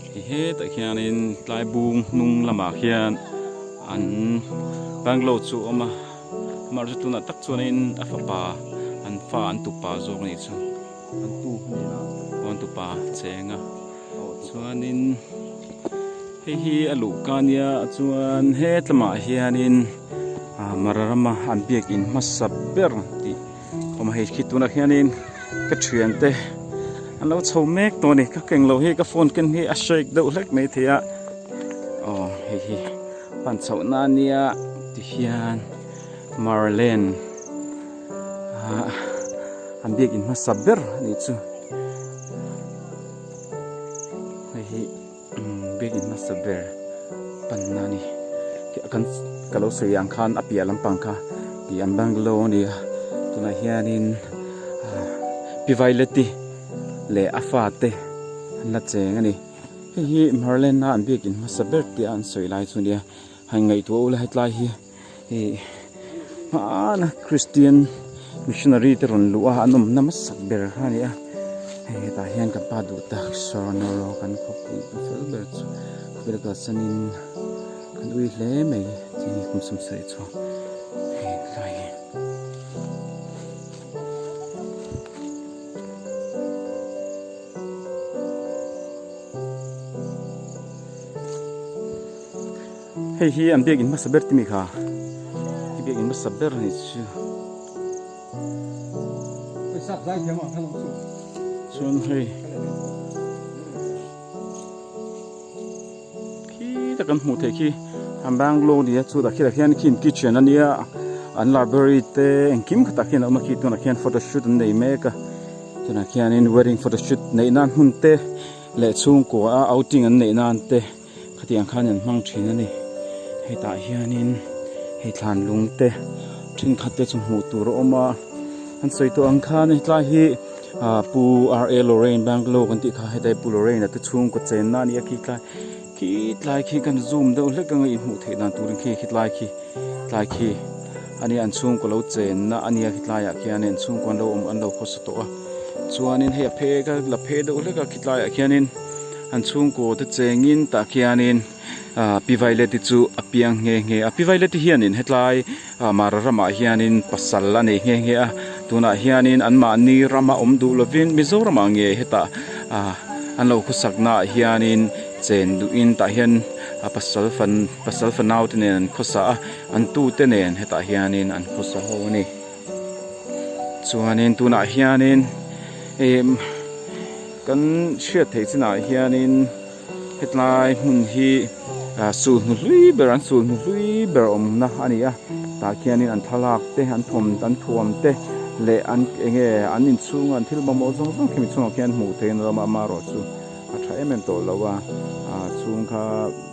Hei hetah hianin tlaibung hnung lamah hian an banglo chu a awm a amaherawhchu tunah tak chuanin a fapa an fa an tupa zawk a nih chu an tu hmun ah pawh an tupa cheng a chuanin hei hi a luh ka nia chuan he tlamah hianin ah mararama an biakin hmasa ber tih-- Aw mahni khi tunah hianin ka thiante an lo chho mek tawh a ni, ka keng lo hi ka phone ken hi a shake deuh hlek mai thei a, aw hei hi pan chho na nia ti hian Marlene ah an biak in hmasa ber a nih chu hei hi. Biakin hmasa ber panna ni kan ka lo sawi ang khan a piah lampang kha ih an banglo a ni a tunah hianin pi vaileti leh a fate an la cheng a ni hei hi hmarlenna an biakin hmasa ber tia an sawi lai chu a nia ngaihtuah ula hetlai hi. Hei hman a Kristian missionary te rawn luh a an awmna hmasa ber kha a ni a. Hei hetah hian kan pa duhtak Saronoraw kan khawpui ka fel ber chu khawvel ka sen in ka nui hle mai chei hi kum sam sawi chhuak hei tlai hi. Hei hi an biak in hmasa ber timi kha i biak in hmasa ber ni chu chuan hei khi ta kan hmuh theih khi a Bangalore nia chutah khilai khian khi in kitchen a nia an library te engkim khatah khian a awm a khi tunah khian photo shoot an nei mek a tunah khianin wedding photo shoot neih nan hmun te leh chhungkua a outing an neih nan te. Khatiang khan an hmang thin a ni. Hetah hianin hei thlan lungte thenkhat te chu hmuh tur a awm a. An sawi tawh ang khan hetlai hi ah Pu RA Lorraine Bangalow kan tih kha heta hi Pu Lorraine a te chhungkaw chenna a ni a. Khi tlai khi tlai khi kan zoom deuh hlek ang a i hmuh theih dan turin khi khi tlai khi tlai khi a nia an chhungkaw lo chenna a nia khi tlaiah khianin an chhungkaw an lo awm an lo khawsa tawh a. Chuanin hei a phek a la phek deuh hlek a khi tlaiah khianin. An chhungkaw te chengin tah khianin Pi Violet-i chu a piang nghe nghe a. Pi Violet-i hianin hetlai Mara ramah hianin pasal a nei nghe nghe a. Tunah hianin anmahni rama awm duh lovin Mizoramah nge heta an lo khawsaknaah hianin chen duhin tah hian pasal fan pasal fanaute nen an khawsa a, an tute nen hetah hianin an khawsa ho a ni. Chuanin tunah hianin em kan hriat theih chinah hianin hetlai hmun hi ah chulhnu hlui ber an chulhnu hlui ber awmna a ni a tah khianin an thlalak te an thawm an thuam te leh an eng nge an inchhung an thil mamawh zawng zawng khi mi chungah khian hmuh theihin a lo awm a amaherawhchu a tha em em tawh lo a a chhung kha--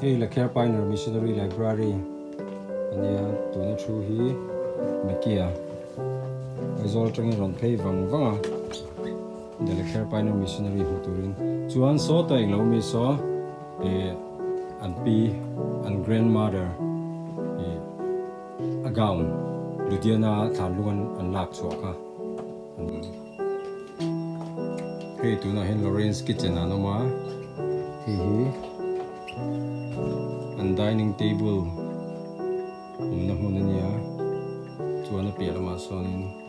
hei la care pioneer missionary library ania tuna thu hi mikia aizawl tangin rawn phei vang vang a. India leh Kher Pioneer Missionary hmuh turin chuan sawta englo mi saw eh an pi an grandmother eh a gown Ludiana thlan lunga an lak chhuah kha an ni. Hei tunah hian Lawrence kitchen ah an awm a, hei hi an dining table awmna hmun a nia, chuan a piah lamah sawnin.